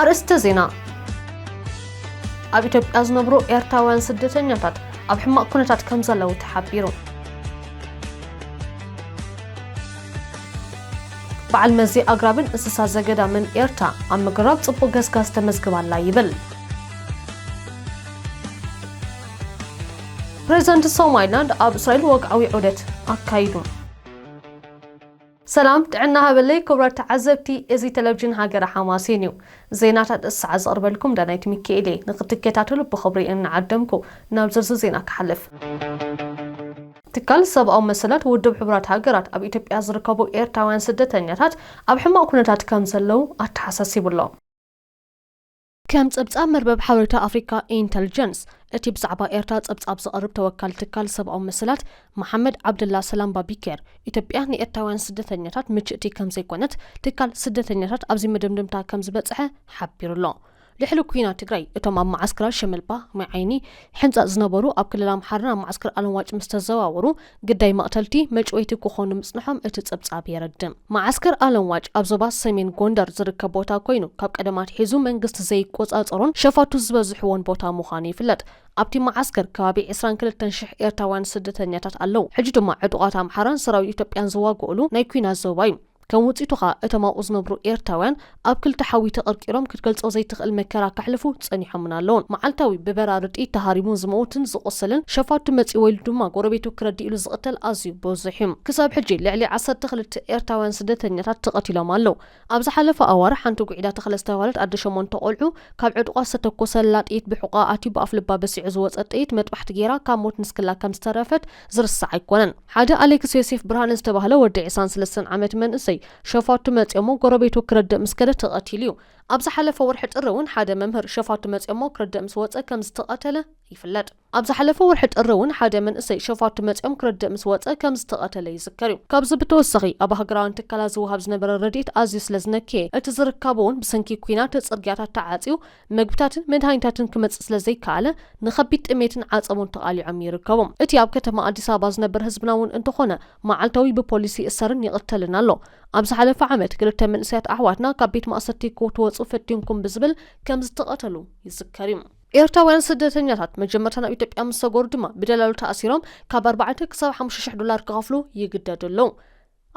ኣርእስተ ዜና ኣብ ኢትዮጵያ ዝነብሩ ኤርትራውያን ስደተኛታት ኣብ ሕማቕ ኩነታት ከም ዘለዉ ተሓቢሩ በዓል መዚ ኣግራብን እንስሳ ዘገዳምን ኤርትራ፣ ኣብ ምግራብ ጽቡቕ ገስጋስ ተመዝግብ ኣላ ይብል። ፕሬዝደንት ሶማይላንድ ኣብ እስራኤል ወግዓዊ ዑደት ኣካይዱ። ሰላም ጥዕና ሃበለይ ክብራት ተዓዘብቲ እዚ ቴሌቪዥን ሃገረ ሓማሴን እዩ ዜናታት እቲ ሰዓት ዘቕርበልኩም ዳናይት ሚካኤል እየ ንክትከታተሉ ብኽብሪ እናዓደምኩ ናብ ዝርዝር ዜና ክሓልፍ ትካል ሰብኣዊ መሰላት ውድብ ሕቡራት ሃገራት ኣብ ኢትዮጵያ ዝርከቡ ኤርትራውያን ስደተኛታት ኣብ ሕማቕ ኩነታት ከም ዘለዉ ኣተሓሳሲቡ'ሎ። ከም ጸብጻብ መርበብ ሓበሬታ ኣፍሪካ ኢንተልጀንስ፣ እቲ ብዛዕባ ኤርትራ ጸብጻብ ዘቕርብ ተወካሊ ትካል ሰብኣዊ መሰላት መሓመድ ዓብደላ ሰላም ባቢኬር፣ ኢትዮጵያ ንኤርትራውያን ስደተኛታት ምችእቲ ከም ዘይኮነት ትካል ስደተኛታት ኣብዚ መደምደምታ ከም ዝበጽሐ ሓቢሩ'ሎ። ድሕሪ ኩናት ትግራይ እቶም ኣብ መዓስከራት ሸመልባ፣ ማይ ዓይኒ፣ ሕንጻጽ ዝነበሩ ኣብ ክልል ኣምሓራ ናብ መዓስከር ኣለምዋጭ ምስ ተዘዋወሩ ግዳይ መቕተልቲ፣ መጭወይቲ ክኾኑ ምጽንሖም እቲ ጸብጻብ የረድእ። መዓስከር ኣለምዋጭ ኣብ ዞባ ሰሜን ጎንደር ዝርከብ ቦታ ኮይኑ ካብ ቀደም ኣትሒዙ መንግስቲ ዘይቆጻጸሮን ሸፋቱ ዝበዝሕዎን ቦታ ምዃኑ ይፍለጥ። ኣብቲ መዓስከር ከባቢ ዕስራን ክልተን ሽሕ ኤርትራውያን ስደተኛታት ኣለዉ። ሕጂ ድማ ዕጡቓት ኣምሓራን ሰራዊት ኢትዮጵያን ዝዋግኡሉ ናይ ኩናት ዞባ እዩ። ከም ውጺቱ ከኣ እቶም ኣብኡ ዝነብሩ ኤርትራውያን ኣብ ክልተ ሓዊ ተቀርቂሮም ክትገልጾ ዘይትኽእል መከራ ከሕልፉ ጸኒሖምን ኣለዉን። መዓልታዊ ብበራሪ ጥይት ተሃሪሙ ዝመውትን ዝቆሰልን፣ ሸፋቱ መጺዎ ኢሉ ድማ ጎረቤቱ ክረድእሉ ዝቅተል ኣዝዩ ብዙሕ እዩ። ክሳብ ሕጂ ልዕሊ ዓሰርተ ክልተ ኤርትራውያን ስደተኛታት ተቀቲሎም ኣለዉ። ኣብ ዝሓለፈ ኣዋርሕ ሓንቲ ጉዒዳ ተኽለ ዝተባህለት ኣደ ሸሞንተ ቆልዑ ካብ ዕጥቋ ዝተተኮሰላ ጥይት ብሕቆኣ ኣትዩ ብኣፍልባ በሲዑ ዝወጸ ጥይት መጥባሕቲ ጌራ ካብ ሞት ንስክላ ከም ዝተረፈት ዝርሳዕ ኣይኮነን ሓደ ኣሌክስ ዮሴፍ ብርሃነ ዝተባህለ ወዲ ዒስራን ስለስተን ዓመት መንእሰይ ሸፋቱ መጽዮሞ ጎረቤቱ ክርድእ ምስ ከደ ተቀቲሉ እዩ ኣብ ዝሓለፈ ወርሒ ጥሪ እውን ሓደ መምህር ሸፋቱ መጽዮሞ ክርድእ ምስ ወጸ ከም ዝተቀተለ ይፍለጥ። ኣብ ዝሓለፈ ወርሒ ጥሪ እውን ሓደ መንእሰይ ሸፋቱ መጽዮም ክርድእ ምስ ወጸ ከም ዝተቀተለ ይዝከር እዩ። ካብዚ ብተወሳኺ ኣብ ሃገራውያን ትካላት ዝወሃብ ዝነበረ ረዲኤት ኣዝዩ ስለ ዝነከየ እቲ ዝርካቡ እውን ብሰንኪ ኲናት ጽርግያታት ተዓጽዩ መግብታትን መድሃኒታትን ክመጽእ ስለ ዘይከኣለ ንኸቢድ ጥሜትን ዓጸቦን ተቓሊዖም ይርከቡ። እቲ ኣብ ከተማ ኣዲስ ኣበባ ዝነብር ህዝብና እውን እንተኾነ መዓልታዊ ብፖሊስ ይእሰርን ይቕተልን ኣሎ። ኣብ ዝሓለፈ ዓመት ክልተ መንእሰያት ኣሕዋትና ካብ ቤት ማእሰርቲ ክትወጹ ፈቲንኩም ብዝብል ከም ዝተቐተሉ ይዝከር እዩ። ኤርትራውያን ስደተኛታት መጀመርታ ናብ ኢትዮጵያ ምስ ሰገሩ ድማ ብደላሎ ተኣሲሮም ካብ ኣርባዕተ ክሳብ ሓሙሽተ ሽሕ ዶላር ክኸፍሉ ይግደዱ ኣለዉ።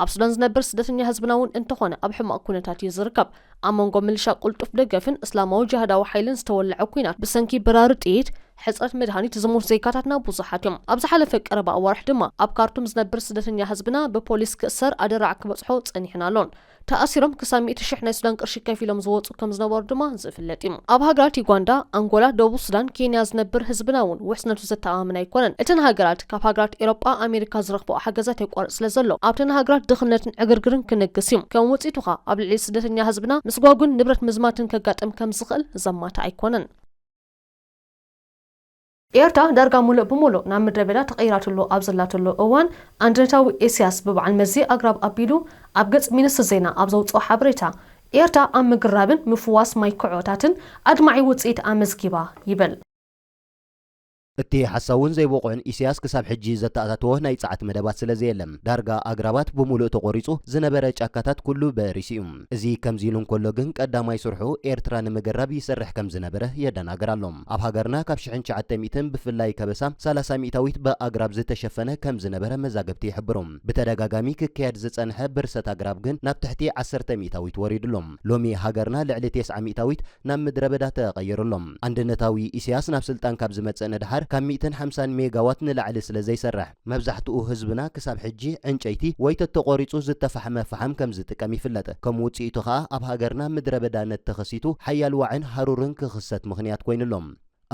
ኣብ ሱዳን ዝነብር ስደተኛ ህዝብና እውን እንተኾነ ኣብ ሕማቕ ኩነታት እዩ ዝርከብ። ኣብ መንጎ ምልሻ ቅልጡፍ ደገፍን እስላማዊ ጅሃዳዊ ሓይልን ዝተወለዐ ኲናት፣ ብሰንኪ በራሪ ጥይት፣ ሕጽረት መድሃኒት ዝሞቱ ዜጋታትና ብዙሓት እዮም። ኣብ ዝሓለፈ ቀረባ ኣዋርሕ ድማ ኣብ ካርቱም ዝነብር ስደተኛ ህዝብና ብፖሊስ ክእሰር ኣደራዕ ክበጽሖ ጸኒሑን ኣሎን። ተኣሲሮም ክሳብ ሚእቲ ሽሕ ናይ ሱዳን ቅርሺ ከፊሎም ዝወጹ፣ ከም ዝነበሩ ድማ ዝፍለጥ እዩ። ኣብ ሃገራት ዩጋንዳ፣ ኣንጎላ፣ ደቡብ ሱዳን፣ ኬንያ ዝነብር ህዝብና እውን ውሕስነቱ ዘተኣማምን ኣይኮነን። እተን ሃገራት ካብ ሃገራት ኤሮጳ፣ ኣሜሪካ ዝረኽበኦ ሓገዛት የቋርጽ ስለ ዘሎ፣ ኣብተን ሃገራት ድኽነትን ዕግርግርን ክነግስ እዩ። ከም ውጽኢቱ ከኣ ኣብ ልዕሊ ስደተኛ ህዝብና ምስጓጕን ንብረት ምዝማትን ከጋጥም ከም ዝኽእል ዘማትእ ኣይኮነን። ኤርትራ ዳርጋ ሙሉእ ብሙሉእ ናብ ምድረበዳ ተቐይራትሉ ኣብ ዘላትሉ እዋን፣ ኣንድነታዊ ኢሲያስ ብበዓል መዚ ኣግራብ ኣቢሉ ኣብ ገጽ ሚንስትሪ ዜና ኣብ ዘውጽኦ ሓበሬታ፣ ኤርትራ ኣብ ምግራብን ምፍዋስ ማይ ክዖታትን ኣድማዒ ውጽኢት ኣመዝጊባ ይብል። እቲ ሓሳውን ዘይብቑዕን ኢሲያስ ክሳብ ሕጂ ዘተኣታተዎ ናይ ጸዓት መደባት ስለዘየለ፣ ዳርጋ ኣግራባት ብሙሉእ ተቖሪጹ፣ ዝነበረ ጫካታት ኩሉ በሪሱ'ዩ። እዚ ከምዚ ኢሉ እንከሎ ግን ቀዳማይ ስርሑ ኤርትራ ንምገራብ ይሰርሕ ከም ዝነበረ የደናግር ኣሎ። ኣብ ሃገርና ካብ ሽሕን ትሽዓተ ሚእትን ብፍላይ ከበሳ ሰላሳ ሚእታዊት ብኣግራብ ዝተሸፈነ ከም ዝነበረ መዛግብቲ ይሕብሩ። ብተደጋጋሚ ክካየድ ዝጸንሐ ብርሰት ኣግራብ ግን ናብ ትሕቲ ዓሰርተ ሚእታዊት ወሪዱ ኣሎ። ሎሚ ሃገርና ልዕሊ ቴስዓ ሚእታዊት ናብ ምድረበዳ ተቐይሩ ኣሎ። ኣንድነታዊ ኢሰያስ ናብ ስልጣን ካብ ዝመጽእ ንደሓር ካብ ሚእትን ሓምሳን ሜጋዋት ንላዕሊ ስለ ዘይሰርሕ፣ መብዛሕትኡ ህዝብና ክሳብ ሕጂ ዕንጨይቲ ወይ ተተቖሪጹ ዝተፋሕመ ፈሓም ከም ዝጥቀም ይፍለጥ። ከም ውጽኢቱ ከኣ ኣብ ሃገርና ምድረበዳነት ተኸሲቱ ሓያል ዋዕን ሃሩርን ክኽሰት ምኽንያት ኮይኑ ኣሎ።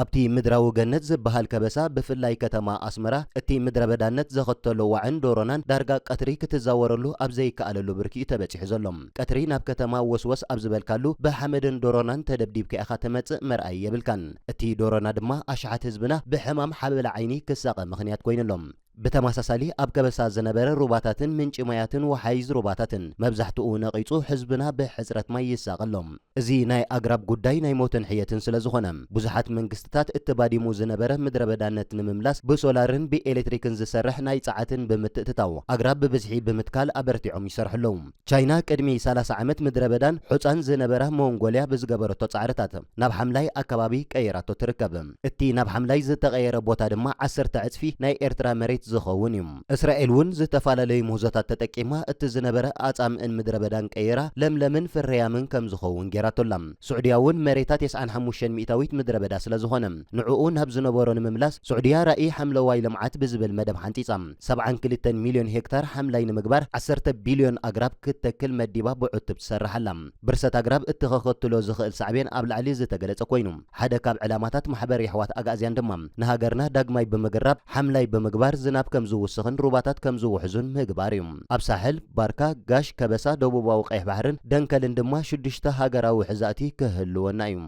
ኣብቲ ምድራዊ ገነት ዝበሃል ከበሳ ብፍላይ ከተማ ኣስመራ እቲ ምድረበዳነት ዘኸተሎ ዋዕን ዶሮናን ዳርጋ ቀትሪ ክትዛወረሉ ኣብ ዘይከኣለሉ ብርኪ'ዩ ተበጺሑ ዘሎ። ቀትሪ ናብ ከተማ ወስወስ ኣብ ዝበልካሉ ብሓመድን ዶሮናን ተደብዲብካ ኢኻ ተመጽእ መርኣዪ የብልካን እቲ ዶሮና ድማ ኣሽሓት ህዝብና ብሕማም ሓበላ ዓይኒ ክሳቐ ምኽንያት ኮይኑ ኣሎ ብተማሳሳሊ ኣብ ከበሳ ዝነበረ ሩባታትን ምንጪ ማያትን ወሓይዝ ሩባታትን መብዛሕትኡ ነቒጹ ህዝብና ብሕጽረት ማይ ይሳቐ ኣሎ። እዚ ናይ ኣግራብ ጉዳይ ናይ ሞትን ሕየትን ስለዝኾነ፣ ብዙሓት መንግስትታት እቲ ባዲሙ ዝነበረ ምድረበዳነት ንምምላስ ብሶላርን ብኤሌክትሪክን ዝሰርሕ ናይ ጸዓትን ብምትእትታው ኣግራብ ብብዝሒ ብምትካል ኣበርቲዖም ይሰርሑ ኣለዉ። ቻይና ቅድሚ ሰላሳ ዓመት ምድረበዳን ሑጻን ዝነበራ ሞንጎልያ ብዝገበረቶ ጻዕርታት ናብ ሓምላይ ኣከባቢ ቀይራቶ ትርከብ። እቲ ናብ ሓምላይ ዝተቐየረ ቦታ ድማ ዓሰርተ ዕጽፊ ናይ ኤርትራ መሬት ዝኸውን እዩ። እስራኤል እውን ዝተፈላለዩ ምህዞታት ተጠቂማ እቲ ዝነበረ ኣጻምእን ምድረበዳን ቀይራ ለምለምን ፍርያምን ከም ዝኸውን ገይራቶ ኣላ። ስዑድያ እውን መሬታ ቴስዓን ሓሙሽተን ሚእታዊት ምድረበዳ ስለ ዝኾነ ንዕኡ ናብ ዝነበሮ ንምምላስ ስዑድያ ራኢ ሓምለዋይ ልምዓት ብዝብል መደብ ሓንጺጻ ሰብዓን ክልተን ሚልዮን ሄክታር ሓምላይ ንምግባር ዓሰርተ ቢልዮን ኣግራብ ክትተክል መዲባ ብዕቱብ ትሰርሕ ኣላ። ብርሰት ኣግራብ እቲ ከኸትሎ ዝኽእል ሳዕቤን ኣብ ላዕሊ ዝተገለጸ ኮይኑ፣ ሓደ ካብ ዕላማታት ማሕበር የሕዋት ኣግኣዝያን ድማ ንሃገርና ዳግማይ ብምግራብ ሓምላይ ብምግባር ዝናብ ከም ዝውስኽን ሩባታት ከም ዝውሕዙን ምግባር እዩ። ኣብ ሳሕል፣ ባርካ፣ ጋሽ፣ ከበሳ፣ ደቡባዊ ቀይሕ ባሕርን ደንከልን ድማ ሽዱሽተ ሃገራዊ ውሕዛእቲ ክህልወና እዩ።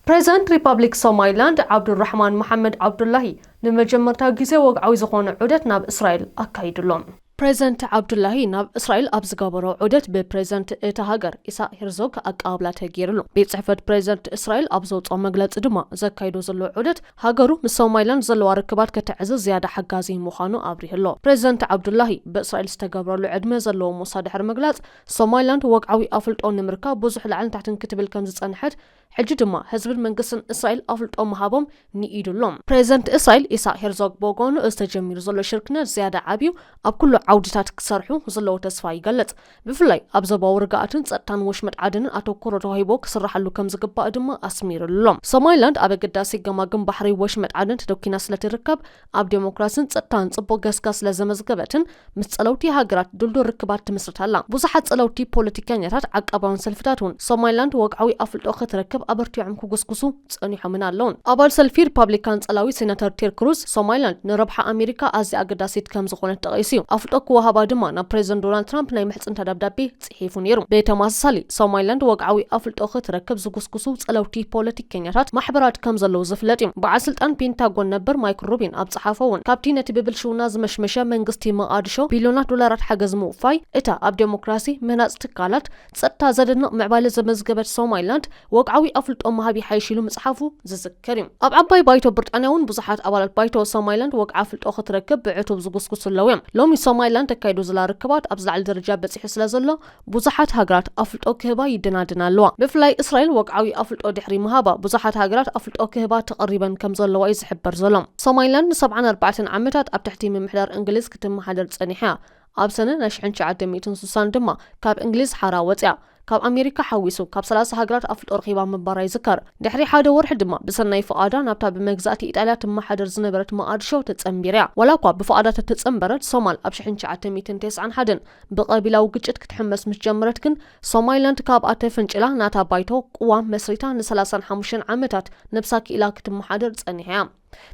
ፕሬዝዳንት ሪፓብሊክ ሶማይላንድ ዓብዱልራሕማን መሓመድ ዓብዱላሂ ንመጀመርታ ግዜ ወግዓዊ ዝኾነ ዑደት ናብ እስራኤል ኣካይዱ ኣሎ። ፕሬዝደንት ዓብዱላሂ ናብ እስራኤል ኣብ ዝገበሮ ዑደት ብፕሬዝደንት እታ ሃገር ኢሳቅ ሄርዞግ ኣቀባብላ ተገይርሉ። ቤት ጽሕፈት ፕሬዝደንት እስራኤል ኣብ ዘውጽኦ መግለጺ ድማ ዘካይዶ ዘሎ ዑደት ሃገሩ ምስ ሶማይላንድ ዘለዋ ርክባት ከተዕዝዝ ዝያዳ ሓጋዚ ምዃኑ ኣብሪሁ ኣሎ። ፕሬዝደንት ዓብዱላሂ ብእስራኤል ዝተገብረሉ ዕድመ ዘለዎ ሞሳ ድሕሪ ምግላጽ፣ ሶማይላንድ ወግዓዊ ኣፍልጦ ንምርካብ ብዙሕ ላዕልን ታሕትን ክትብል ከምዝጸንሐት፣ ሕጂ ድማ ህዝብን መንግስትን እስራኤል ኣፍልጦ ምሃቦም ንኢዱ ኣሎ። ፕረዚደንት እስራኤል ኢሳቕ ሄርዞግ ብወገኑ እዚ ተጀሚሩ ዘሎ ሽርክነት ዝያዳ ዓብዩ ኣብ ኩሉ ዓውዲታት ክሰርሑ ዘለዎ ተስፋ ይገልጽ። ብፍላይ ኣብ ዞባዊ ርግኣትን ጸጥታን ወሽመጥ ዓደንን ኣተኩሮ ተዋሂቦ ክስራሓሉ ከምዝግባእ ድማ ኣስሚሩሉ ኣሎ። ሶማሊላንድ ኣብ ኣገዳሲ ገማግም ባሕሪ ወሽመጥ ዓደን ተደኲና ስለትርከብ፣ ኣብ ደሞክራስን ጸጥታን ጽቡቕ ገስጋስ ስለ ዘመዝገበትን ምስ ጸለውቲ ሃገራት ድልዱል ርክባት ትምስርት ኣላ። ብዙሓት ጸለውቲ ፖለቲከኛታት፣ ዓቃባውያን ሰልፍታት እውን ሶማሊላንድ ወግዓዊ ኣፍልጦ ክትረክብ ኣበርቲዖም ክጉስጉሱ ጸኒሖምን ኣለዉን። ኣባል ሰልፊ ሪፓብሊካን ጸላዊ ሴናተር ቴድ ክሩዝ፣ ሶማሊላንድ ንረብሓ ኣሜሪካ ኣዝያ ኣገዳሲት ከም ዝኾነት ጠቒሱ'ዩ። ኣፍልጦ ክወሃባ ድማ ናብ ፕረዚደንት ዶናልድ ትራምፕ ናይ ምሕጽንታ ደብዳቤ ሒፉ ነይሩ። ብተመሳሳሊ፣ ሶማሊላንድ ወግዓዊ ኣፍልጦ ክትረክብ ዝጉስጉሱ ጸለውቲ ፖለቲከኛታት ማሕበራት ከም ዘለዉ ዝፍለጥ እዩ። በዓል ስልጣን ፔንታጎን ነበር ማይክል ሩቢን ኣብ ዝጸሓፎ እውን፣ ካብቲ ነቲ ብብልሽውና ዝመሽመሸ መንግስቲ መቓድሾ ቢልዮናት ዶላራት ሓገዝ ምውፋይ፣ እታ ኣብ ደሞክራሲ፣ ምህናጽ ትካላት ጸጥታ ዘደንቕ ምዕባለ ዘመዝገበት ሶማሊላንድ ወግዓዊ ኣፍልጦ ምሃብ ይሓይሽ ኢሉ ምጽሓፉ ዝዝከር እዩ። ከሪም፣ ኣብ ዓባይ ባይቶ ብርጣንያ እውን ብዙሓት ኣባላት ባይቶ ሶማይላንድ ወግዓ ፍልጦ ክትረክብ ብዕቱብ ዝጉስጉሱ ኣለዉ እዮም። ሎሚ ሶማይላንድ ተካይዶ ዘላ ርክባት ኣብ ዝላዕሊ ደረጃ በጺሑ ስለ ዘሎ ብዙሓት ሃገራት ኣፍልጦ ክህባ ይደናደና ኣለዋ። ብፍላይ እስራኤል ወግዓዊ ኣፍልጦ ድሕሪ ምሃባ ብዙሓት ሃገራት ኣፍልጦ ክህባ ተቐሪበን ከም ዘለዋ እዩ ዝሕበር ዘሎ። ሶማይላንድ ንሰብዓን ኣርባዕተን ዓመታት ኣብ ትሕቲ ምምሕዳር እንግሊዝ ክትመሓደር ጸኒሓ እያ። ኣብ ሰነ ናይ ሽሕን ትሽዓተ ሚእትን ስሳን ድማ ካብ እንግሊዝ ሓራ ወጺኣ። ካብ ኣሜሪካ ሓዊሱ ካብ ሰላሳ ሃገራት ኣፍልጦ ረኺባ ምንባራ ይዝከር። ድሕሪ ሓደ ወርሒ ድማ ብሰናይ ፍቓዳ ናብታ ብመግዛእቲ ኢጣልያ ትመሓደር ዝነበረት መቓድሾ ተጸንቢር'ያ። ዋላኳ ብፍቓዳ ተተጸንበረት፣ ሶማል ኣብ ሽሕን ትሽዓተ ሚእትን ቴስዓን ሓደን ብቐቢላዊ ግጭት ክትሕመስ ምስ ጀመረት ግን ሶማይላንድ ካብኣ ተፈንጪላ ናታ ባይቶ፣ ቅዋም፣ መስሪታ ንሰላሳን ሓሙሽተን ዓመታት ነብሳ ክኢላ ክትመሓደር ጸኒሓ'ያ።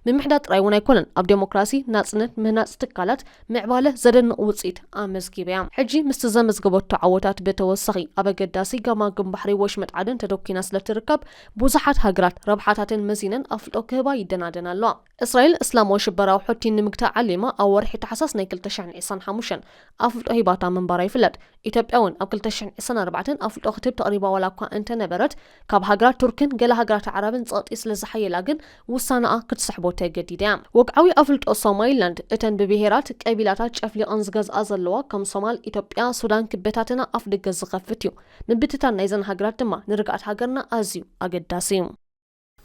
ምምሕዳር ጥራይ እውን ኣይኮነን ኣብ ደሞክራሲ፣ ናጽነት፣ ምህናጽ ትካላት፣ ምዕባለ ዘደንቕ ውጽኢት ኣመዝጊባ'ያ። ሕጂ ምስቲ ዘመዝገበቶ ዓወታት ብተወሳኺ፣ ኣብ ኣገዳሲ ገማግም ባሕሪ ወሽመጥ ዓደን ተደኲና ስለ እትርከብ፣ ብዙሓት ሃገራት ረብሓታተን መዚነን ኣፍልጦ ክህባ ይደናደና ኣለዋ። እስራኤል፣ እስላማዊ ሽበራዊ ሑቲ ንምግታእ ዓሊማ ኣብ ወርሒ ታሕሳስ ናይ ክልተ ሽሕን ዒስራን ሓሙሽተን ኣፍልጦ ሂባታ ምንባራ ይፍለጥ። ኢትዮጵያ እውን ኣብ ክልተ ሽሕን ዒስራን ኣርባዕተን ኣፍልጦ ክትህብ ተቕሪባ ዋላ እኳ እንተነበረት፣ ካብ ሃገራት ቱርክን ገለ ሃገራት ኣዕራብን ጸቕጢ ስለ ዝሓየላ ግን ውሳነኣ ክትስሕቦ ተገዲዳ እያ። ወግዓዊ ኣፍልጦ ሶማይላንድ፣ እተን ብብሄራት፣ ቀቢላታት ጨፍሊቐን ዝገዝኣ ዘለዋ ከም ሶማል፣ ኢትዮጵያ፣ ሱዳን ክበታተና ኣፍደገ ዝኸፍት እዩ። ምብትታን ናይዘን ሃገራት ድማ ንርግኣት ሃገርና ኣዝዩ ኣገዳሲ እዩ።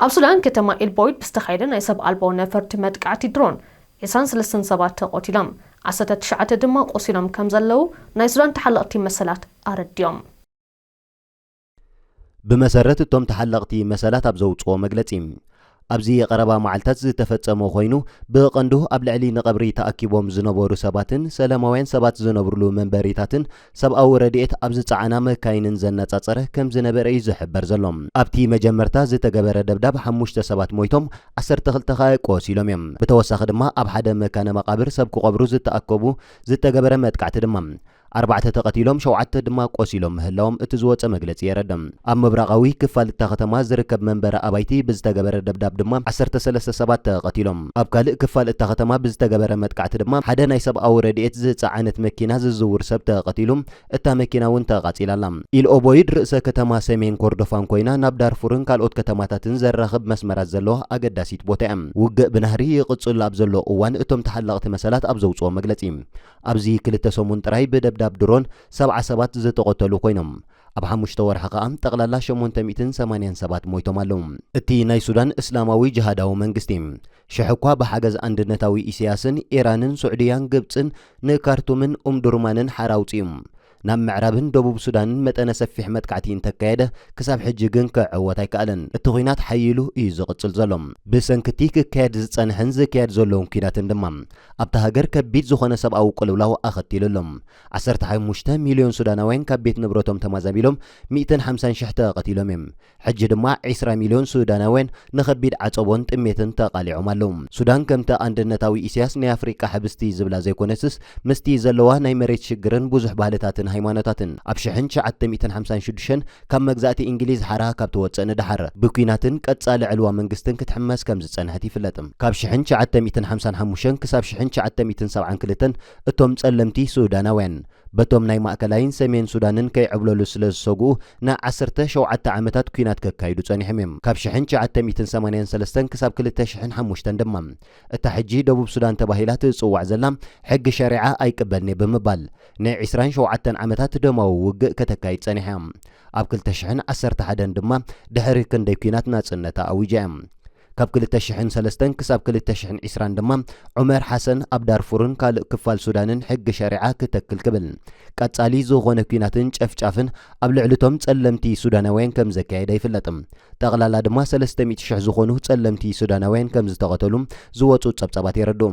ኣብ ሱዳን ከተማ ኤልቦይድ ብዝተኻየደ ናይ ሰብ ኣልቦ ነፈርቲ መጥቃዕቲ ድሮን ዕስራን ሰለስተን ሰባት ተቐቲሎም ዓሰርተ ትሽዓተ ድማ ቆሲሎም ከም ዘለዉ ናይ ሱዳን ተሓለቕቲ መሰላት ኣረዲኦም። ብመሰረት እቶም ተሓለቕቲ መሰላት ኣብ ዘውፅኦ መግለፂ ኣብዚ ቀረባ መዓልታት ዝተፈጸመ ኮይኑ ብቐንዱ ኣብ ልዕሊ ንቐብሪ ተኣኪቦም ዝነበሩ ሰባትን ሰላማውያን ሰባት ዝነብርሉ መንበሪታትን ሰብኣዊ ረድኤት ኣብ ዝጸዓና መካይንን ዘነጻጸረ ከም ዝነበረ እዩ ዝሕበር ዘሎ። ኣብቲ መጀመርታ ዝተገበረ ደብዳብ ሓሙሽተ ሰባት ሞይቶም ዓሰርተ ክልተ ከኣ ቆሲሎም እዮም። ብተወሳኺ ድማ ኣብ ሓደ መካነ መቓብር ሰብ ክቐብሩ ዝተኣከቡ ዝተገበረ መጥቃዕቲ ድማ ኣርባዕተ ተቐቲሎም ሸውዓተ ድማ ቆሲሎም ምህላዎም እቲ ዝወጸ መግለጺ የረደ። ኣብ ምብራቓዊ ክፋል እታ ከተማ ዝርከብ መንበሪ ኣባይቲ ብዝተገበረ ደብዳብ ድማ ዓሰርተ ሰለስተ ሰባት ተቐቲሎም። ኣብ ካልእ ክፋል እታ ከተማ ብዝተገበረ መጥቃዕቲ ድማ ሓደ ናይ ሰብኣዊ ረድኤት ዝጸዓነት መኪና ዝዝውር ሰብ ተቐቲሉ፣ እታ መኪና እውን ተቓጺላ ኣላ። ኢል ኦቦይድ ርእሰ ከተማ ሰሜን ኮርዶፋን ኮይና ናብ ዳርፉርን ካልኦት ከተማታትን ዘራኽብ መስመራት ዘለዋ ኣገዳሲት ቦታ እያ። ውግእ ብናህሪ ይቕጽሉ ኣብ ዘሎ እዋን እቶም ተሓለቕቲ መሰላት ኣብ ዘውጽዎ መግለጺ፣ ኣብዚ ክልተ ሰሙን ጥራይ ብደብዳብ ድሮን ሰብዓ ሰባት ዝተቐተሉ ኮይኖም፣ ኣብ ሓሙሽተ ወርሒ ከኣ ጠቕላላ ሸሞንተ ሚእትን ሰማንያን ሰባት ሞይቶም ኣለዉ። እቲ ናይ ሱዳን እስላማዊ ጅሃዳዊ መንግስቲ፣ ሽሕ'ኳ ብሓገዝ ኣንድነታዊ ኢሰያስን፣ ኢራንን፣ ሱዕድያን፣ ግብጽን፣ ንካርቱምን ኡምዱርማንን ሓራ ኣውጺኡ፣ ናብ ምዕራብን ደቡብ ሱዳንን መጠነ ሰፊሕ መጥቃዕቲ እንተካየደ፣ ክሳብ ሕጂ ግን ክዕወት ኣይከኣለን። እቲ ኲናት ሓዪሉ እዩ ዝቕጽል ዘሎ። ብሰንኪ'ቲ ክካየድ ዝጸንሐን ዝካየድ ዘሎን ኲናትን ድማ፣ ኣብታ ሃገር ከቢድ ዝኾነ ሰብኣዊ ቅልውላው ኣኸቲሉ ኣሎ። ዓሰርተ ሓሙሽተ ሚልዮን ሱዳናውያን ካብ ቤት ንብረቶም ተማዛቢሎም፣ ሚእትን ሓምሳን ሽሕ ተቐቲሎም እዮም። ሕጂ ድማ ዕስራ ሚልዮን ሱዳናውያን ንኸቢድ ዓጸቦን ጥሜትን ተቓሊዖም ኣለዉ። ሱዳን ከምቲ ኣንድነታዊ ኢሲያስ ናይ ኣፍሪቃ ሕብስቲ ዝብላ ዘይኮነትስ ምስቲ ዘለዋ ናይ መሬት ሽግርን ብዙሕ ባህልታትን ሃይማኖታትን ኣብ ሽሕን ትሽዓተ ሚእትን ሓምሳን ሽዱሽተን ካብ መግዛእቲ እንግሊዝ ሓራ ካብ ትወጽእ ንደሓር ብኲናትን ቀጻሊ ዕልዋ መንግስትን ክትሕመስ ከም ዝጸንሐት ይፍለጥ። ካብ ሽሕን ትሽዓተ ሚእትን ሓምሳን ሓሙሽተን ክሳብ ሽሕን ትሽዓተ ሚእትን ሰብዓን ክልተን እቶም ጸለምቲ ሱዳናውያን፣ በቶም ናይ ማእከላይን ሰሜን ሱዳንን ከይዕብለሉ ስለ ዝሰግኡ ን ዓሰርተ ሸውዓተ ዓመታት ኲናት ከካይዱ ጸኒሖም እዮም። ካብ ሽሕን ትሽዓተ ሚእትን ሰማንያን ሰለስተን ክሳብ ክልተ ሽሕን ሓሙሽተን ድማ እታ ሕጂ ደቡብ ሱዳን ተባሂላ ትጽዋዕ ዘላ ሕጊ ሸሪዓ ኣይቅበልን'የ ብምባል ን ዕስራን ሸውዓተን ዓመታት ደማዊ ውግእ ከተካይድ ጸኒሓ እያ። ኣብ ክልተ ሽሕን ዓሰርተ ሓደን ድማ ድሕሪ ክንደይ ኲናት ናጽነታ ኣዊጃ እያ። ካብ ክልተ ሽሕን ሰለስተን ክሳብ ክልተ ሽሕን ዒስራን ድማ ዑመር ሓሰን ኣብ ዳርፉርን ካልእ ክፋል ሱዳንን ሕጊ ሸሪዓ ክተክል ክብል ቀጻሊ ዝኾነ ኲናትን ጨፍጫፍን ኣብ ልዕሊቶም ጸለምቲ ሱዳናውያን ከም ዘካየደ ይፍለጥ። ጠቕላላ ድማ ሰለስተ ሚእቲ ሽሕ ዝኾኑ ጸለምቲ ሱዳናውያን ከም ዝተቐተሉ ዝወጹ ጸብጻባት የረድኡ።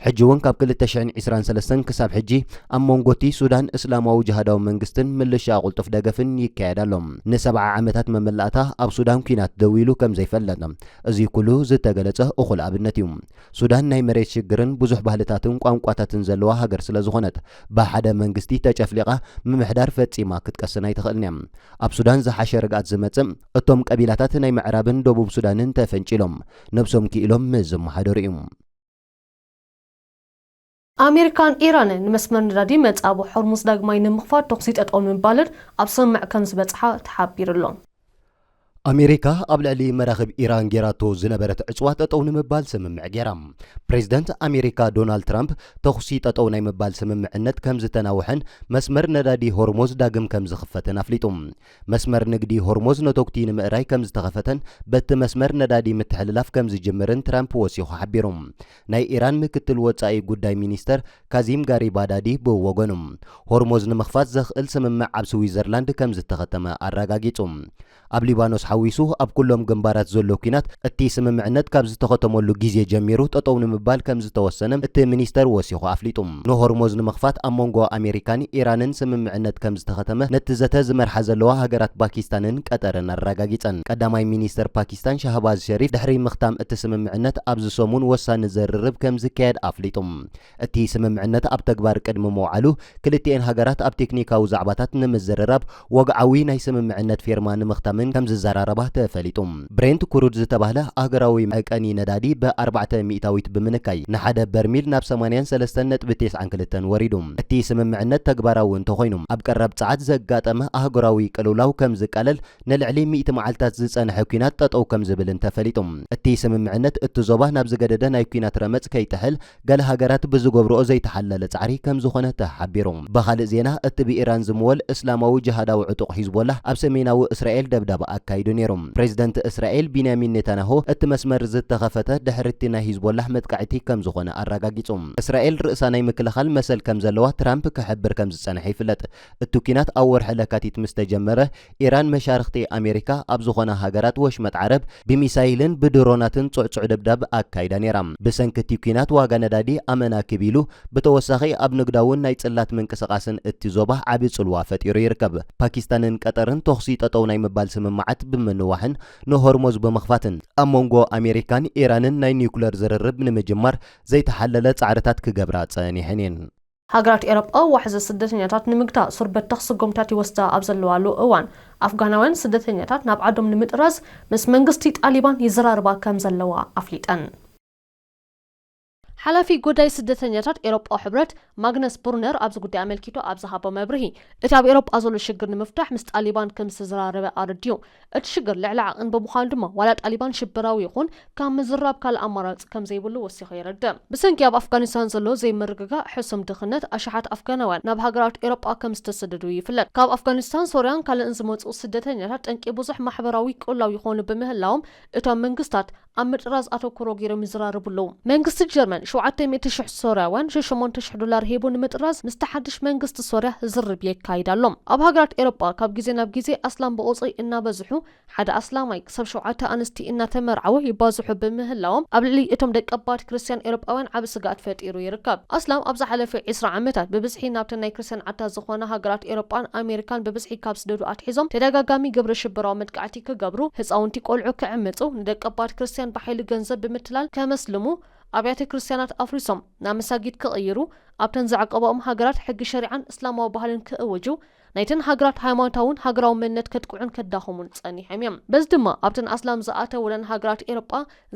ሕጂ እውን ካብ ክልተ ሽሕን ዒስራን ሰለስተን ክሳብ ሕጂ ኣብ ሞንጎቲ ሱዳን እስላማዊ ጅሃዳዊ መንግስትን ምልሻኣ ቁልጡፍ ደገፍን ይካየድ ኣሎ። ንሰብዓ ዓመታት መመላእታ ኣብ ሱዳን ኩናት ደው ኢሉ ከም ዘይፈለጥ እዙይ ኩሉ ዝተገለጸ እኹል ኣብነት እዩ። ሱዳን ናይ መሬት ሽግርን ብዙሕ ባህልታትን ቋንቋታትን ዘለዋ ሃገር ስለ ዝኾነት ብሓደ መንግስቲ ተጨፍሊቓ ምምሕዳር ፈጺማ ክትቀስን ኣይትኽእልን እያ። ኣብ ሱዳን ዝሓሸ ርግኣት ዝመጽእ እቶም ቀቢላታት ናይ ምዕራብን ደቡብ ሱዳንን ተፈንጪሎም ነብሶም ክኢሎም ምስ ዝመሓደሩ እዩ። ኣሜሪካን ኢራንን ንመስመር ነዳዲ መጻብቦ ሆርሙዝ ዳግማይ ንምኽፋት ተኹሲ ጠጠው ንምባለን ኣብ ስምምዕ ከምዝበጽሓ ተሓቢሩ'ሎ። ኣሜሪካ ኣብ ልዕሊ መራኽብ ኢራን ጌራቶ ዝነበረት ዕጽዋ ጠጠው ንምባል ስምምዕ ጌራ። ፕሬዝደንት ኣሜሪካ ዶናልድ ትራምፕ ተኹሲ ጠጠው ናይ ምባል ስምምዕነት ከምዝተናውሐን መስመር ነዳዲ ሆርሞዝ ዳግም ከምዝኽፈትን ኣፍሊጡ። መስመር ንግዲ ሆርሞዝ ነቶጉቲ ንምእራይ ከምዝተኸፈተን በቲ መስመር ነዳዲ ምትሕልላፍ ከምዝጅምርን ትራምፕ ወሲኹ ሓቢሩ። ናይ ኢራን ምክትል ወጻኢ ጉዳይ ሚኒስተር ካዚም ጋሪባዳዲ ብወገኑ፣ ሆርሞዝ ንምኽፋት ዘኽእል ስምምዕ ኣብ ስዊዘርላንድ ከምዝተኸተመ ኣረጋጊጹ። ኣብ ሊባኖስ ሓዊሱ ኣብ ኩሎም ግንባራት ዘሎ ኲናት እቲ ስምምዕነት ካብ ዝተኸተመሉ ግዜ ጀሚሩ ጠጠው ንምባል ከምዝተወሰነ እቲ ሚኒስተር ወሲኹ ኣፍሊጡ። ንሆርሞዝ ንምኽፋት ኣብ መንጎ ኣሜሪካን ኢራንን ስምምዕነት ከምዝተኸተመ ነቲ ዘተ ዝመርሓ ዘለዋ ሃገራት ፓኪስታንን ቀጠርን ኣረጋጊጸን። ቀዳማይ ሚኒስተር ፓኪስታን ሻህባዝ ሸሪፍ ድሕሪ ምኽታም እቲ ስምምዕነት ኣብዚ ሰሙን ወሳኒ ዝርርብ ከምዝካየድ ኣፍሊጡ። እቲ ስምምዕነት ኣብ ተግባር ቅድሚ ምውዓሉ ክልቲኤን ሃገራት ኣብ ቴክኒካዊ ዛዕባታት ንምዝርራብ ወግዓዊ ናይ ስምምዕነት ፊርማ ንምኽታምን ከም ዝዘራረባ ተፈሊጡ። ብሬንት ኩሩድ ዝተባህለ ኣህገራዊ መዕቀኒ ነዳዲ ብ ኣርባዕተ ሚእታዊት ብምንካይ ንሓደ በርሚል ናብ ሰማንያን ሰለስተን ነጥቢ ቴስዓን ክልተን ወሪዱ። እቲ ስምምዕነት ተግባራዊ እንተኾይኑ ኣብ ቀረብ ጸዓት ዘጋጠመ ኣህጉራዊ ቅልውላው ከም ዝቃለል ንልዕሊ ሚእቲ መዓልታት ዝጸንሐ ኲናት ጠጠው ከም ዝብልን ተፈሊጡ። እቲ ስምምዕነት እቲ ዞባ ናብ ዝገደደ ናይ ኲናት ረመጽ ከይጥሕል ገለ ሃገራት ብዝገብርኦ ዘይተሓለለ ጻዕሪ ከም ዝኾነ ተሓቢሩ። ብኻልእ ዜና፣ እቲ ብኢራን ዝምወል እስላማዊ ጅሃዳዊ ዕጡቕ ሒዝቦላህ ኣብ ሰሜናዊ እስራኤል ደብዳብ ኣካይዱ ነይሩ። ፕሬዝደንት እስራኤል ቢንያሚን ኔታንያሁ እቲ መስመር ዝተኸፈተ ድሕሪ'ቲ ናይ ሂዝቦላህ መጥቃዕቲ ከም ዝኾነ ኣረጋጊጹ። እስራኤል ርእሳ ናይ ምክልኻል መሰል ከም ዘለዋ ትራምፕ ክሕብር ከም ዝጸንሐ ይፍለጥ። እቲ ኲናት ኣብ ወርሒ ለካቲት ምስ ተጀመረ፣ ኢራን መሻርኽቲ ኣሜሪካ ኣብ ዝዀና ሃገራት ወሽመጥ ዓረብ ብሚሳይልን ብድሮናትን ጽዕጹዕ ደብዳብ ኣካይዳ ነይራ። ብሰንኪ እቲ ኲናት ዋጋ ነዳዲ ኣመና ክብ ኢሉ፣ ብተወሳኺ ኣብ ንግዳውን ናይ ጽላት ምንቅስቓስን እቲ ዞባ ዓቢ ጽልዋ ፈጢሩ ይርከብ። ፓኪስታንን ቀጠርን ተዅሲ ጠጠው ናይ ምባል ስምምዓት ብምንዋሕን ንሆርሞዝ ብምኽፋትን፣ ኣብ መንጎ ኣሜሪካን ኢራንን ናይ ኒዩክለር ዝርርብ ንምጅማር ዘይተሓለለ ጻዕርታት ክገብራ ጸኒሐን እየን። ሃገራት ኤሮጳ ዋሕዚ ስደተኛታት ንምግታእ ሱር በተኽ ስጉምታት ይወስዳ ኣብ ዘለዋሉ እዋን፣ ኣፍጋናውያን ስደተኛታት ናብ ዓዶም ንምጥራዝ ምስ መንግስቲ ጣሊባን ይዘራረባ ከም ዘለዋ ኣፍሊጠን። ሓላፊ ጉዳይ ስደተኛታት ኤሮጳዊ ሕብረት ማግነስ ብሩነር ኣብዚ ጉዳይ ኣመልኪቱ ኣብ ዝሃቦ መብርሂ፣ እቲ ኣብ ኤሮጳ ዘሎ ሽግር ንምፍታሕ ምስ ጣሊባን ከም ዝተዘራረበ ኣረዲኡ። እቲ ሽግር ልዕሊ ዓቕን ብምዃኑ ድማ ዋላ ጣሊባን ሽበራዊ ይኹን ካብ ምዝራብ ካልእ ኣማራጺ ከም ዘይብሉ ወሲኹ የረድእ። ብሰንኪ ኣብ ኣፍጋኒስታን ዘሎ ዘይምርግጋእ ሕሱም ድኽነት ኣሽሓት ኣፍጋናውያን ናብ ሃገራት ኤሮጳ ከም ዝተሰደዱ ይፍለጥ። ካብ ኣፍጋኒስታን፣ ሶርያን ካልእን ዝመጽኡ ስደተኛታት ጠንቂ ብዙሕ ማሕበራዊ ቅልውላው ይኾኑ ብምህላዎም እቶም መንግስታት፣ ኣብ ምጥራዝ ኣተኩሮ ገይሮም ይዘራረቡ ኣለዉ። መንግስቲ ጀርመን ሸውዓተ ሚእቲ ሽሕ ሶርያውያን ሸሸሞንተ ሽሕ ዶላር ሂቡ ንምጥራዝ ምስቲ ሓድሽ መንግስቲ ሶርያ ዝርርብ የካይድ ኣሎ። ኣብ ሃገራት ኤሮጳ ካብ ግዜ ናብ ግዜ ኣስላም ብቑጽሪ እናበዝሑ ሓደ ኣስላማይ ክሳብ ሸውዓተ ኣንስቲ እናተመርዓወ ይባዝሑ ብምህላዎም ኣብ ልዕሊ እቶም ደቀባት ክርስትያን ኤሮጳውያን ዓቢ ስግኣት ፈጢሩ ይርከብ። ኣስላም ኣብ ዝሓለፈ ዕስራ ዓመታት ብብዝሒ ናብተን ናይ ክርስትያን ዓድታት ዝኾና ሃገራት ኤሮጳን ኣሜሪካን ብብዝሒ ካብ ዝስደዱ ኣትሒዞም ተደጋጋሚ ግብረ ሽበራዊ መጥቃዕቲ ክገብሩ፣ ህጻውንቲ ቆልዑ ክዕምጹ፣ ንደቀባት ክርስትያን ብሓይሊ ገንዘብ ብምትላል ከመስልሙ፣ ኣብያተ ክርስትያናት ኣፍሪሶም ናብ መሳጊድ ክቕይሩ፣ ኣብተን ዘዕቆባኦም ሃገራት ሕጊ ሸሪዓን እስላማዊ ባህልን ክእውጁ፣ ናይተን ሃገራት ሃይማኖታውን ሃገራዊ መንነት ከጥቅዑን ከዳኽሙን ጸኒሖም እዮም። በዚ ድማ ኣብተን ኣስላም ዝኣተወለን ሃገራት ኤሮጳ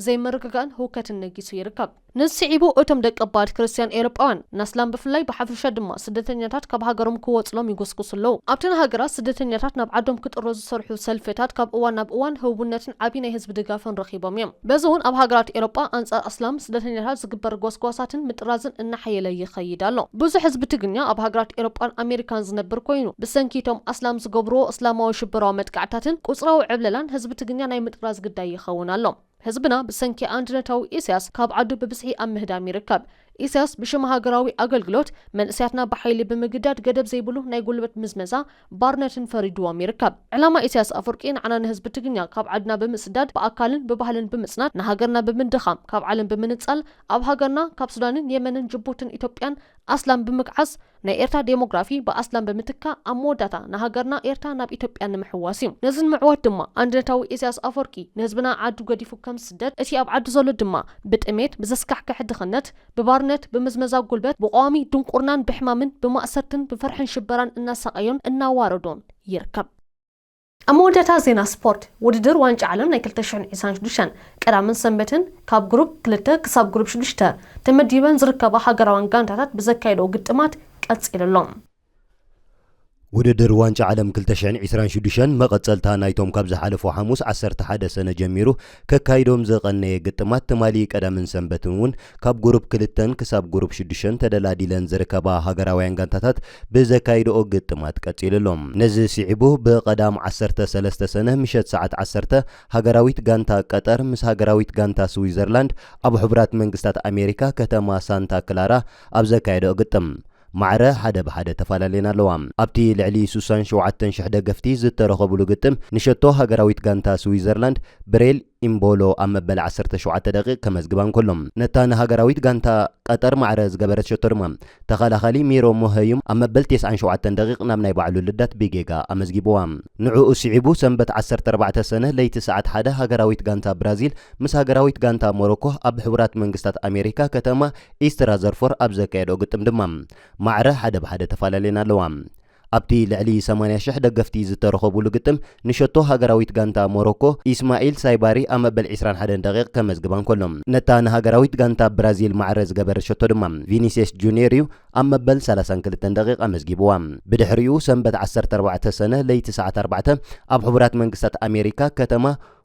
ዘይምርግጋእን ህውከትን ነጊሱ ይርከብ። ነዚ ስዒቡ እቶም ደቀባት ክርስትያን ኤውሮጳውያን፣ ንኣስላም ብፍላይ ብሓፈሻ ድማ ስደተኛታት ካብ ሃገሮም ክወጹሎም ይጉስጉሱ ኣለዉ። ኣብተን ሃገራት ስደተኛታት ናብ ዓዶም ክጥረዙ ዝሰርሑ ሰልፍታት ካብ እዋን ናብ እዋን ህቡብነትን ዓቢ ናይ ህዝቢ ድጋፍን ረኺቦም እዮም። በዚ እውን ኣብ ሃገራት ኤውሮጳ ኣንጻር ኣስላም ስደተኛታት ዝግበር ጎስጓሳትን ምጥራዝን እናሓየለ ይኸይድ ኣሎ። ብዙሕ ህዝቢ ትግርኛ ኣብ ሃገራት ኤውሮጳን ኣሜሪካን ዝነብር ኮይኑ፣ ብሰንኪ እቶም ኣስላም ዝገብርዎ እስላማዊ ሽበራዊ መጥቃዕትታትን ቁጽራዊ ዕብለላን ህዝቢ ትግርኛ ናይ ምጥራዝ ግዳይ ይኸውን ኣሎ። ህዝብና ብሰንኪ ኣንድነታዊ ኢሳያስ ካብ ዓዱ ብብዝሒ ኣብ ምህዳም ይርከብ። ኢሳያስ ብሽም ሃገራዊ ኣገልግሎት፣ መንእሰያትና ብሓይሊ ብምግዳድ ገደብ ዘይብሉ ናይ ጉልበት ምዝመዛ፣ ባርነትን ፈሪዱዎም ይርከብ። ዕላማ ኢሳያስ ኣፍወርቂ ንዓና ንህዝቢ ትግርኛ ካብ ዓድና ብምስዳድ ብኣካልን ብባህልን ብምጽናት ንሃገርና ብምድኻም ካብ ዓለም ብምንጻል ኣብ ሃገርና ካብ ሱዳንን የመንን ጅቡትን ኢትዮጵያን ኣስላም ብምግዓዝ ናይ ኤርትራ ዴሞግራፊ ብኣስላም ብምትካእ ኣብ መወዳእታ ንሃገርና ኤርትራ ናብ ኢትዮጵያ ንምሕዋስ እዩ። ነዚ ንምዕዋት ድማ ኣንድነታዊ ኢሰያስ ኣፎርቂ ንህዝብና ዓዱ ገዲፉ ከም ዝስደድ እቲ ኣብ ዓዱ ዘሎ ድማ ብጥሜት ብዘስካሕክሕ ድኽነት ብባርነት ብምዝመዛ ጉልበት ብቐዋሚ ድንቁርናን ብሕማምን ብማእሰርትን ብፍርሕን ሽበራን እናሳቐዮን እናዋረዶን ይርከብ። ኣብ መወዳእታ ዜና ስፖርት፣ ውድድር ዋንጫ ዓለም ናይ ክልተ ሽሕን ዒስራን ሽዱሽተን፣ ቀዳምን ሰንበትን ካብ ግሩፕ ክልተ ክሳብ ግሩፕ ሽዱሽተ ተመዲበን ዝርከባ ሃገራውያን ጋንታታት ብዘካየድኦ ግጥማት ቀጺሉ ኣሎ። ውድድር ዋንጫ ዓለም ክልተ ሽሕን ዒስራን ሽዱሽተን መቐጸልታ ናይቶም ካብ ዝሓለፉ ሓሙስ ዓሰርተ ሓደ ሰነ ጀሚሩ ከካይዶም ዝቐነየ ግጥማት ትማሊ ቀዳምን ሰንበትን እውን ካብ ጉሩፕ ክልተን ክሳብ ጉሩፕ ሽዱሸን ተደላዲለን ዝርከባ ሃገራውያን ጋንታታት ብዘካይድኦ ግጥማት ቀጺሉ ኣሎ። ነዚ ስዒቡ ብቐዳም ዓሰርተ ሰለስተ ሰነ ምሸት ሰዓት ዓሰርተ ሃገራዊት ጋንታ ቀጠር ምስ ሃገራዊት ጋንታ ስዊዘርላንድ ኣብ ሕቡራት መንግስታት ኣሜሪካ ከተማ ሳንታ ክላራ ኣብ ዘካየድኦ ግጥም ማዕረ ሓደ ብሓደ ተፋላልየን ኣለዋ። ኣብቲ ልዕሊ ሱሳን ሸውዓተን ሽሕ ደገፍቲ ዝተረኸቡሉ ግጥም፣ ንሸቶ ሃገራዊት ጋንታ ስዊዘርላንድ ብሬል ኢምቦሎ ኣብ መበል ዓሰርተ ሸውዓተ ደቒቕ ከመዝግባ እንከሎ፣ ነታ ንሃገራዊት ጋንታ ቀጠር ማዕረ ዝገበረት ሸቶ ድማ ተኸላኻሊ ሚሮ ሞሀዩም ኣብ መበል ተስዓን ሸውዓተን ደቒቕ ናብ ናይ ባዕሉ ልዳት ብጌጋ ኣመዝጊቡዋ። ንዕኡ ስዒቡ ሰንበት ዓሰርተ ኣርባዕተ ሰነ ለይቲ ሰዓት ሓደ ሃገራዊት ጋንታ ብራዚል ምስ ሃገራዊት ጋንታ ሞሮኮ ኣብ ሕቡራት መንግስታት ኣሜሪካ ከተማ ኢስት ራዘርፎር ኣብ ዘካየድኦ ግጥም ድማ ማዕረ ሓደ ብ ሓደ ተፋላልየን ኣለዋ። ኣብቲ ልዕሊ ሰማንያ ሽሕ ደገፍቲ ዝተረኸቡሉ ግጥም ንሸቶ ሃገራዊት ጋንታ ሞሮኮ ኢስማኢል ሳይባሪ ኣብ መበል ዕስራን ሓደን ደቒቕ ከመዝግባ እንከሎ ነታ ንሃገራዊት ጋንታ ብራዚል ማዕረ ዝገበረ ሸቶ ድማ ቪኒስየስ ጁንየር'ዩ ኣብ መበል ሰላሳን ክልተን ደቒቕ ኣመዝጊብዋ። ብድሕሪኡ ሰንበት ዓሰርተ ኣርባዕተ ሰነ ለይቲ ሰዓት ኣርባዕተ ኣብ ሕቡራት መንግስታት ኣሜሪካ ከተማ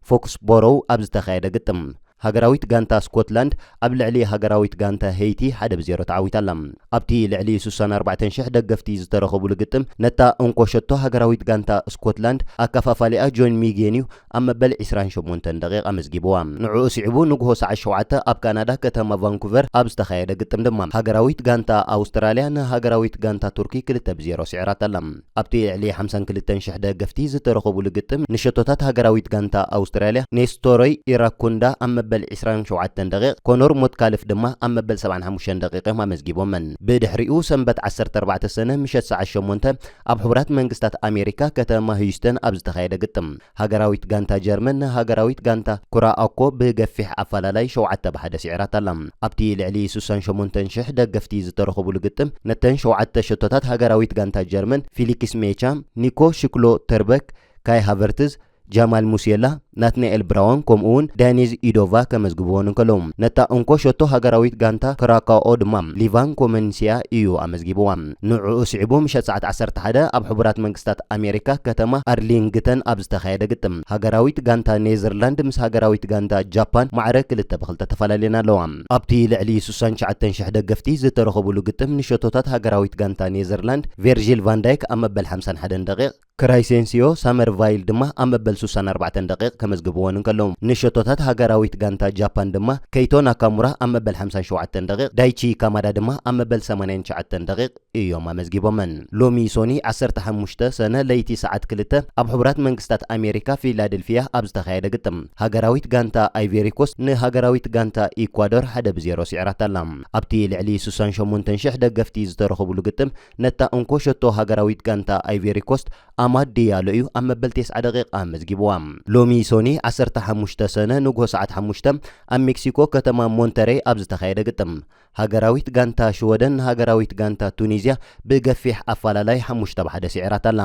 ፎክስቦሮው ኣብ ዝተኻየደ ግጥም፣ ሃገራዊት ጋንታ ስኮትላንድ ኣብ ልዕሊ ሃገራዊት ጋንታ ሄይቲ ሓደ ብ ዜሮ ተዓዊታ ኣላ። ኣብቲ ልዕሊ ስሳን ኣርባዕተን ሽሕ ደገፍቲ ዝተረኸቡሉ ግጥም፣ ነታ እንኮ ሸቶ ሃገራዊት ጋንታ ስኮትላንድ ኣከፋፋሊኣ ጆን ሚጌን'ዩ ኣብ መበል ዕስራን ሸሞንተን ደቒቕ ኣመዝጊቡዋ። ንዕኡ ስዒቡ ንግሆ ሰዓት ሸውዓተ ኣብ ካናዳ ከተማ ቫንኩቨር ኣብ ዝተኻየደ ግጥም ድማ፣ ሃገራዊት ጋንታ ኣውስትራልያ ንሃገራዊት ጋንታ ቱርኪ ክልተ ብ ዜሮ ስዒራታ ኣላ። ኣብቲ ልዕሊ ሓምሳን ክልተን ሽሕ ደገፍቲ ዝተረኸቡሉ ግጥም ንሸቶታት ሃገራዊት ጋንታ ኣውስትራልያ ኔስቶሮይ ኢራኩንዳ ኣብ መበል ዕስራን ሸውዓተን ደቒቕ ኮኖር ሞትካልፍ ድማ ኣብ መበል ሰብዓን ሓሙሽተን ደቒቕ እዮም ኣመዝጊቦመን። ብድሕሪኡ ሰንበት ዓሰርተ ኣርባዕተ ሰነ ምሸት ሰዓት ሸሞንተ ኣብ ሕቡራት መንግስታት ኣሜሪካ ከተማ ህዩስተን ኣብ ዝተኻየደ ግጥም ሃገራዊት ጋንታ ጀርመን፣ ሃገራዊት ጋንታ ኩራ ኣኮ ብገፊሕ ኣፋላላይ ሸውዓተ ብ ሓደ ሲዒራታ'ላ። ኣብቲ ልዕሊ ሱሳን ሸሞንተን ሽሕ ደገፍቲ ዝተረኸቡሉ ግጥም፣ ነተን ሸውዓተ ሸቶታት ሃገራዊት ጋንታ ጀርመን፣ ፊሊክስ ሜቻ፣ ኒኮ ሽክሎ ተርበክ፣ ካይ ሃቨርትዝ፣ ጃማል ሙሲየላ፣ ናትናኤል ብራውን ከምኡ'ውን ዳኒዝ ኢዶቫ ከመዝግብወን እንከለዉ፣ ነታ እንኮ ሸቶ ሃገራዊት ጋንታ ክራካኦ ድማ ሊቫን ኮመንሲያ ኢዩ ኣመዝጊብዋ። ንዕኡ ስዒቡ ምሸት ሰዓት ዓሰርተ ሓደ ኣብ ሕቡራት መንግስታት ኣሜሪካ ከተማ ኣርሊንግተን ኣብ ዝተኻየደ ግጥም፣ ሃገራዊት ጋንታ ኔዘርላንድ ምስ ሃገራዊት ጋንታ ጃፓን ማዕረ ክልተ ብ ክልተ ተፈላልየን ኣለዋ። ኣብቲ ልዕሊ ስሳን ትሽዓተን ሽሕ ደገፍቲ ዝተረኸቡሉ ግጥም፣ ንሸቶታት ሃገራዊት ጋንታ ኔዘርላንድ ቬርጂል ቫን ዳይክ ኣብ መበል ሓምሳን ሓደን ደቒቕ፣ ክራይሴንሲዮ ሳመርቫይል ድማ ኣብ መበል ስሳን ኣርባዕተን ደቒቕ ከመዝግብወን እንከለዉ፣ ንሸቶታት ሃገራዊት ጋንታ ጃፓን ድማ ከይቶ ናካሙራ ኣብ መበል ሓምሳን ሸውዓተን ደቒቕ፣ ዳይቺ ካማዳ ድማ ኣብ መበል ሰማንያን ትሽዓተን ደቒቕ እዮም ኣመዝጊቦመን። ሎሚ ሶኒ ዓሰርተ ሓሙሽተ ሰነ ለይቲ ሰዓት ክልተ ኣብ ሕቡራት መንግስታት ኣሜሪካ ፊላደልፊያ ኣብ ዝተኻየደ ግጥም፣ ሃገራዊት ጋንታ ኣይቬሪኮስት ንሃገራዊት ጋንታ ኢኳዶር ሓደ ብ ዜሮ ስዒራታ'ላ። ኣብቲ ልዕሊ ስሳን ሸሞንተን ሽሕ ደገፍቲ ዝተረኸቡሉ ግጥም፣ ነታ እንኮ ሸቶ ሃገራዊት ጋንታ ኣይቬሪኮስት ኣማድ ድያሎ እዩ ኣብ መበል ቴስዓ ደቒቓ ኣመዝጊቡዋ። ሎሚ ሶኒ ዓሰርተ ሓሙሽተ ሰነ ንግሆ ሰዓት ሓሙሽተ ኣብ ሜክሲኮ ከተማ ሞንተረይ ኣብ ዝተኻየደ ግጥም፣ ሃገራዊት ጋንታ ሽወደን ንሃገራዊት ጋንታ ቱኒዝያ ብገፊሕ ኣፋላላይ ሓሙሽተ ብ ሓደ ስዒራታ'ላ።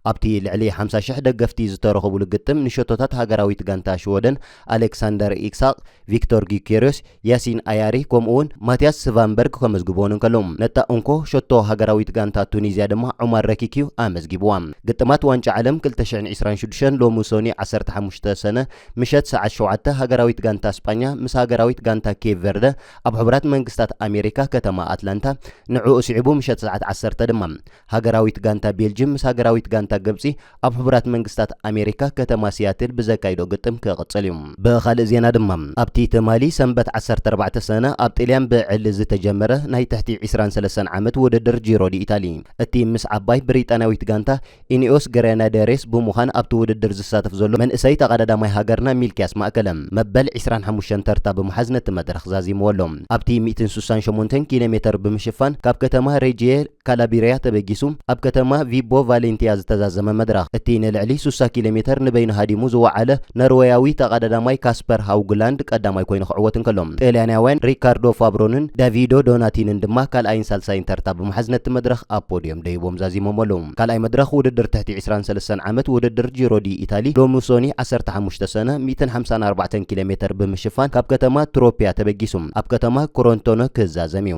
ኣብቲ ልዕሊ ሓምሳ ሽሕ ደገፍቲ ዝተረኽቡሉ ግጥም ንሸቶታት ሃገራዊት ጋንታ ሽወደን ኣሌክሳንደር ኢሳቕ፣ ቪክቶር ጊዩኬርዮስ፣ ያሲን ኣያሪ ከምኡ'ውን ማቲያስ ስቫንበርግ ከመዝግቡወን እንከለዉ፣ ነታ እንኮ ሸቶ ሃገራዊት ጋንታ ቱኒዝያ ድማ ዑማር ረኪክ'ዩ ኣመዝጊቡዋ። ግጥማት ዋንጫ ዓለም ክልተ ሽሕን ዕስራን ሽዱሽተን ሎሚ ሰኑይ ዓሰርተ ሓሙሽተ ሰነ ምሸት ሰዓት ሸውዓተ ሃገራዊት ጋንታ ስጳኛ ምስ ሃገራዊት ጋንታ ኬብ ቨርደ ኣብ ሕቡራት መንግስታት ኣሜሪካ ከተማ ኣትላንታ ንዕኡ ስዒቡ ምሸት ሰዓት ዓሰርተ ድማ ሃገራዊት ጋንታ ቤልጅም ምስ ሃገራዊት ጋንታ ግብጺ ኣብ ሕቡራት መንግስታት ኣሜሪካ ከተማ ሲያትል ብዘካይዶ ግጥም ክቕጽል እዩ። ብኻልእ ዜና ድማ ኣብቲ ትማሊ ሰንበት ዓሰርተ ኣርባዕተ ሰነ ኣብ ጥልያን ብዕሊ ዝተጀመረ ናይ ትሕቲ ዕስራን ሰለስተን ዓመት ውድድር ጂሮ ዲኢታሊ እቲ ምስ ዓባይ ብሪጣንያዊት ጋንታ ኢኒኦስ ግረናደሬስ ብምዃን ኣብቲ ውድድር ዝሳተፍ ዘሎ መንእሰይ ተቐዳዳማይ ሃገርና ሚልክያስ ማእከለ መበል ዕስራን ሓሙሽተን ተርታ ብምሓዝ ነቲ መድረኽ ዛዚምዎ ኣሎ። ኣብቲ ሚእትን ስሳን ሸሞንተን ኪሎሜተር ብምሽፋን ካብ ከተማ ሬጂየ ካላብሪያ ተበጊሱ ኣብ ከተማ ቪቦ ቫሌንቲያ ዝተዛዘመ መድረኽ፣ እቲ ንልዕሊ ሱሳ ኪሎ ሜተር ንበይኑ ሃዲሙ ዝወዓለ ኖርወያዊ ተቐዳዳማይ ካስፐር ሃውግላንድ ቀዳማይ ኮይኑ ክዕወት እንከሎ፣ ጥልያናውያን ሪካርዶ ፋብሮንን ዳቪዶ ዶናቲንን ድማ ካልኣይን ሳልሳይን ተርታ ብምሓዝ ነቲ መድረኽ ኣብ ፖድዮም ደይቦም ዛዚሞሞሉ። ካልኣይ መድረኽ ውድድር ትሕቲ ዕስራን ሰለስተን ዓመት ውድድር ጂሮ ዲ ኢታሊ ሎሚ ሶኒ ዓሰርተ ሓሙሽተ ሰነ ሚእትን ሓምሳን ኣርባዕተን ኪሎ ሜተር ብምሽፋን ካብ ከተማ ትሮፒያ ተበጊሱ ኣብ ከተማ ክሮንቶነ ክዛዘም እዩ።